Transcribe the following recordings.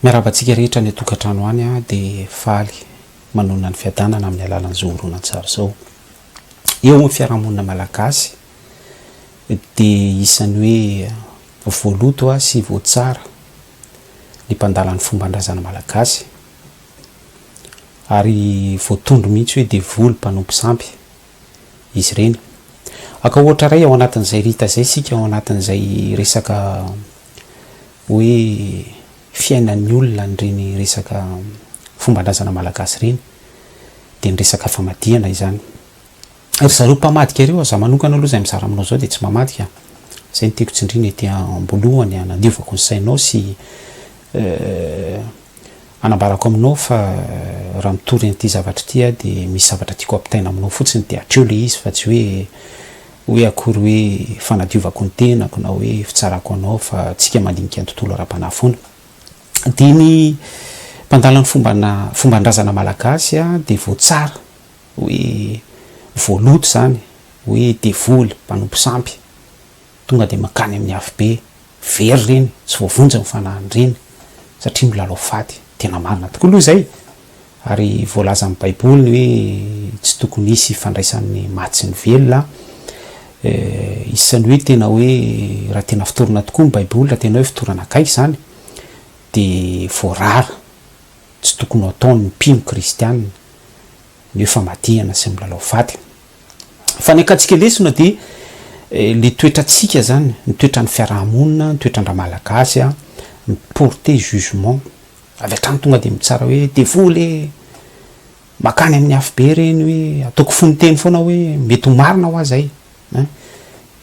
Miarahaba antsika rehetra any an-tokantrano any aho dia faly manonona ny fiadanana amin'ny alalan'izao horonantsary izao. Eo amin'ny fiarahamonina malagasy dia isan'ny hoe voaloto sy voatsara ny mpandala ny fomban-drazana malagasy ary voatondro mihitsy hoe devoly mpanompo sampy. izy ireny. Aka ohatra iray ao anatin'izay Rita izay isika ao anatin'izay resaka hoe fiainan'ny olona an'ireny resaka fomban-drazana malagasy ireny dia ny resaka famadihana izany. Ry zareo mpamadika ireo, za manokana aloha izay mizara aminao izao dia tsy mamadika, izay no tiako tsindriana ety am-boalohany hanadiovako ny sainao sy Anambarako aminao fa raha mitory an'ity zavatra ity aho dia misy zavatra tiako ampitaina aminao fotsiny dia hatreo ilay izy fa tsy hoe hoe akory hoe fanadiovako ny tenako na hoe fitsarako anao fa tsika mandinika ny tontolo ara-panahy foana. Dia ny mpandala ny fombana fomban-drazana malagasy a dia voatsara hoe voaloto izany hoe devoly mpanompo sampy tonga dia mankany amin'ny afobe. Very ireny, tsy voavonjy ny fanahiny ireny satria milalao fady. Tena marina tokoa aloha izay ary voalazan'ny baiboly ny hoe tsy tokony hisy hifandraisan'ny maty sy ny velona an. Isan'ny hoe tena hoe raha tena fotorana tokoa ny baiboly, raha tena hoe fotorana akaiky izany dia voarara tsy tokony ho ataon'ny mpino kristiana ny hoe famadihana sy ny milalao fady. Fanekantsika lesona dia le toetrantsika zany, ny toetran'ny fiaraha-monina, ny toetran-dRamalagasy a, mi-porter jugement avy hatrany tonga dia mitsara hoe devoly e! makany amin'ny afobe reny hoe ataoko fononteny foana hoe mety ho marina hoa zay ein!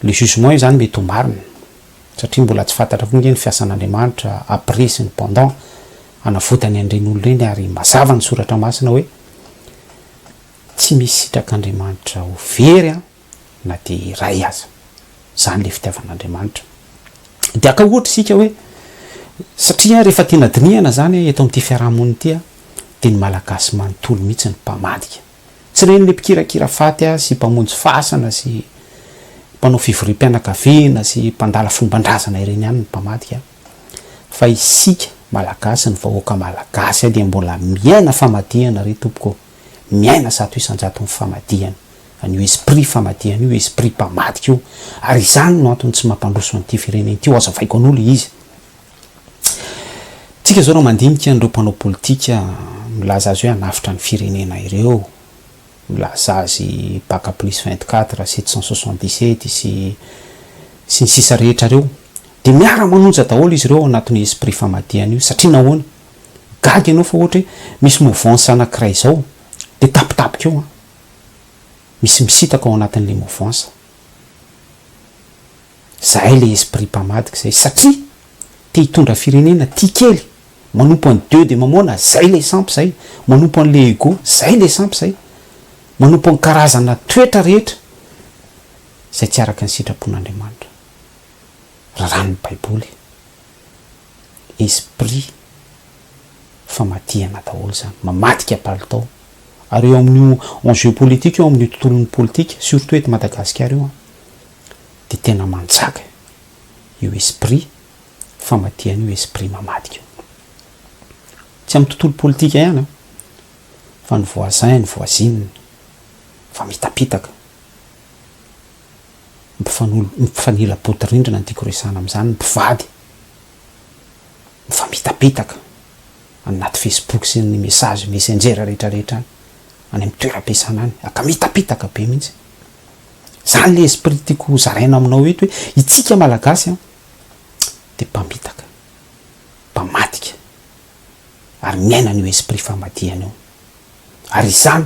le jugement io zany mety ho marina satria mbola tsy fantatra koa nge ny fiasan'Andriamanitra après sy ny pendant hanavotany an'ireny olona ireny ary mazava ny soratra masina hoe Tsy misy sitrak'Andriamanitra ho very an na dia iray aza. Izany ilay fitiavan'Andriamanitra. Dia haka ohatra isika hoe, satria rehefa tena dinihana izany eto amin'ity fiaraha-monina ity an, dia ny Malagasy manontolo mihitsy no mpamadika. Tsy ren'ilay mpikirakira faty sy mpamonjy fasana sy mpanao fivoriam-pianakaviana sy mpandala fomban-drazana ireny ihany no mpamadika fa isika Malagasy, ny vahoaka Malagasy dia mbola miaina famadihana re tompoko ô! miaina zato isan-jaton'ny famadihana, an'io esprit famadihana io, esprit mpamadika io, ary izany no antony tsy mampandroso an'ity firenena ity, hoazavaiko an'io le izy. Tsika zao raha mandinika an'ireo mpanao politika milaza azy hoe hanavotra ny firenena ireo, milaza azy baka plus vingt quatre, sept cent soixante dix sept sy sy ny sisa rehetra reo, de miara-manonja daholo izy reo ao anatin'io esprit famadihana io, satria nahoana? Gaga ianao fa ohatra hoe misy mouvance anankiray izao dia tapitapika eo an! Misy misitaka ao anatin'ilay mouvance. Izahay ilay esprit mpamadika izay satria te hitondra firenena, tia kely, manompo an'i Dieu dia mamoana, izay ilay sampy izay, manompo an'ilay ego, izay ilay sampy izay, manompo ny karazana toetra rehetra izay tsy araka ny sitrapon'Andriamanitra. Raràn'ny Baiboly. esprit famadihana daholo zany, mamadika palitao, ary eo amin'io enjeu politique io amin'io tontolon'ny politika surtout eto Madagasikara io an, dia tena manjaka io esprit famadihana io, esprit mamadika io, tsy amin'ny tontolo politika ihany an, fa ny voisin, ny voisine, fa mitapitaka. Mifanolo, mifanila-bodirindrina ny tiako resahana amin'izany ny mpivady mifamitapitaka any anaty Facebook sy ny message messenger rehetrarehetra any, any amin'ny toeram-piasana any, aka mitapitaka be mihitsy. Izany ilay esprit tiako hozaraina aminao eto hoe itsika Malagasy an, dia mpamitaka, mpamadika ary miaina an'io esprit famadihana io. Ary izany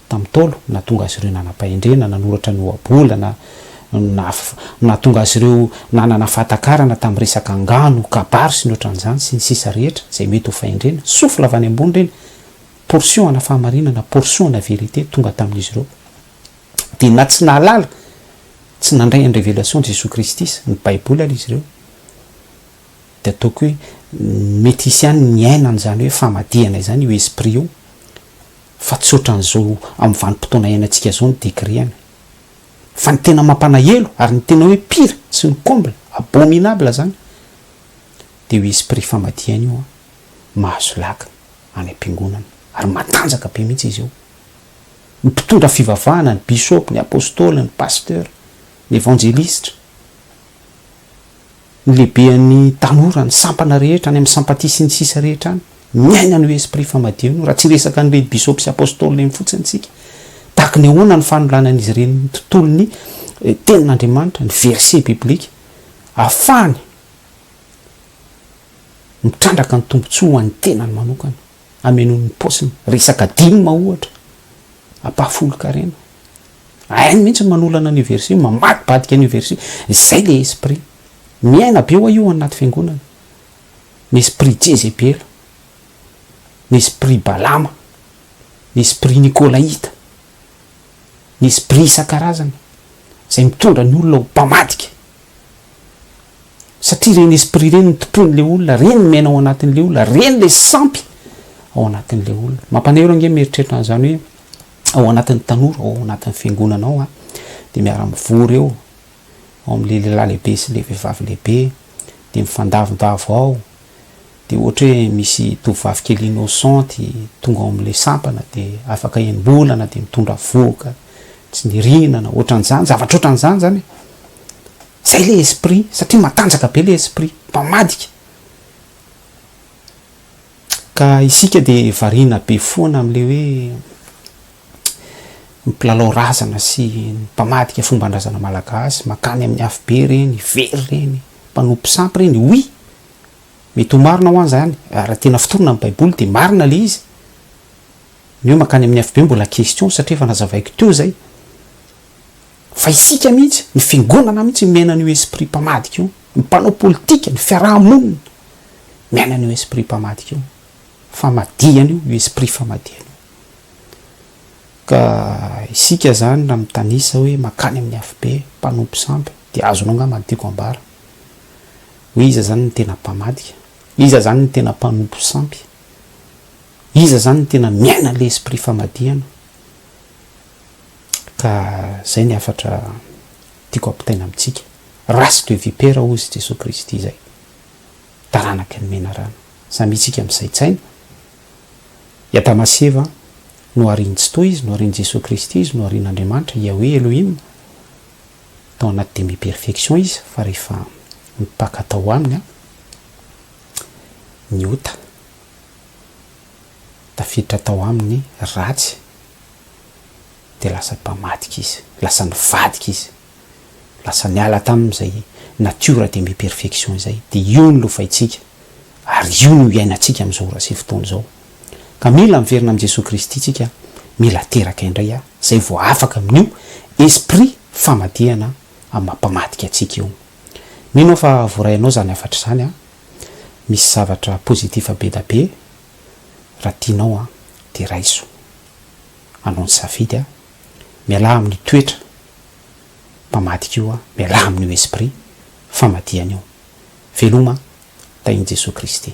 tamin'ny Ntaolo, nahatonga azy ireo nanam-pahendrena, nanoratra ny ohabolana, nahatonga azy ireo nanana fahatakarana tamin'ny resaka angano, kabary sy ny ohatran'izany, sy ny sisa rehetra, izay mety ho fahendrena. Souffle avy any ambony ireny, portion ana fahamarinana, portion ana vérité tonga tamin'izy ireo. Dia na tsy nahalala, tsy nandray an'i révélation Jesoa Kristy sy ny Baiboly ary izy ireo, dia ataoko hoe mety hisy ihany ny niainany izany hoe famadihana izany, io esprit io, Fa tsy ohatran'izao amin'ny vanim-potoana iainantsika izao ny degré an! Fa ny tena mampalahelo ary ny tena hoe pire sy ny comble abominable izany dia io esprit famadihana io an! Mahazo lagy any am-piangonana ary matanjaka be mihitsy izy io! Ny mpitondra fivavahana, ny bishop, ny apostoly, ny pasteur, ny evanjelistra, Ny lehibean'ny tanora, ny sampana rehetra, any amin'ny sampatia sy ny sisa rehetra any, miaina an'io esprit famadio an'io, raha tsy hiresaka an'ireny bisôpy sy apôstôly ireny fotsiny isika. Tahaka ny ahoana ny fanolanan'izy ireny ny tontolon'ny Tenin'Andriamanitra, ny verset biblika, ahafahany mitrandraka ny tombontsoa ho an'ny tenany manokana. Hamenoany ny paosiny. Resaka dim ohatra. Ampahafolon-karena. Hainy mihitsy ny manolana an'io verset io, mamadibadika an'io verset io. Izay ilay esprit. Miaina be ho'a io ao anaty fiangonana. Ny esprit Jezebela. Ny esprit Balama. Ny esprit Nikolaita. Ny esprit isan-karazany. Izay mitondra ny olona ho mpamadika. satria ireny esprit ireny no tompoin'ilay olona, ireny no miaina ao anatin'ilay olona, ireny ilay sampy ao anatin'ilay olona. Mampanairo ange mieritreritra an'izany hoe ao anatin'ny tanora ao anatin'ny fiangonana ao an, dia miara-mivory eo ao amin'ilay lehilahy lehibe sy ilay vehivavy lehibe, dia mifandavondavo ao, dia ohatra hoe misy tovovavy kely innocente tonga ao amin'ilay sampana dia afaka enim-bolana dia mitondra vohoka tsy nirinana, ohatran'izany, zavatra ohatran'izany izany e. Zay le esprit satria matanjaka be le esprit mpamadika ka isika de variana be foana amle hoe ny mpilalao razana sy ny mpamadika fombandrazana malagasy makany aminy afobe reny very reny mpanompo sampy reny oui mety ho marina hoan zany raha tena fotorina am baiboly de marina le izy ny hoe makany aminy afobe mbola question satria efa nazavaiko teo zay Fa isika mihitsy, ny fiangonana mihitsy miaina an'io esprit mpamadika io, ny mpanao politika, ny fiaraha-monina miaina an'io esprit mpamadika io, famadihana io, io esprit famadihana io. Ka isika izany raha mitanisa hoe mankany amin'ny afobe, mpanompo sampy, dia azonao angamba ny tiako ambara, hoe iza izany ny tena mpamadika, iza izany ny tena mpanompo sampy, iza izany ny tena miaina an'ilay esprit famadihana. Ka zay ny hafatra tiako ampitaina amintsika, race de vipera hozy i Jesoa Kristy izay taranaky ny menarana, samy itsika misaintsaina, i Adama sy Eva noharian'i Tsitoha izy, noharian'i Jesoa Kristy izy, noharian'Andriamanitra, Yahweh Elohim, tao anaty demi perfection izy fa rehefa mipaka tao aminy ny ota, tafiditra tao aminy ny ratsy, dia lasa mpamadika izy, lasa nivadika izy, lasa niala tamin'izay natiora de mi perfection izay, dia io no lovaintsika ary io no iainantsika amin'izao ora sy fotoana izao, ka mila miverina amin'i Jesoa Kristy tsika, mila teraka indray aho, izay vao afaka amin'io esprit famadihana amin'ny maha mpamadika antsika io. Mino aho fa voarainao izany hafatra izany an! Misy zavatra positif be da be. raha tianao an dia raiso anao ny safidy an, mialà amin'io toetra mpamadika io an, mialà amin'io esprit famadihana io, veloma tahin'i Jesoa Kristy.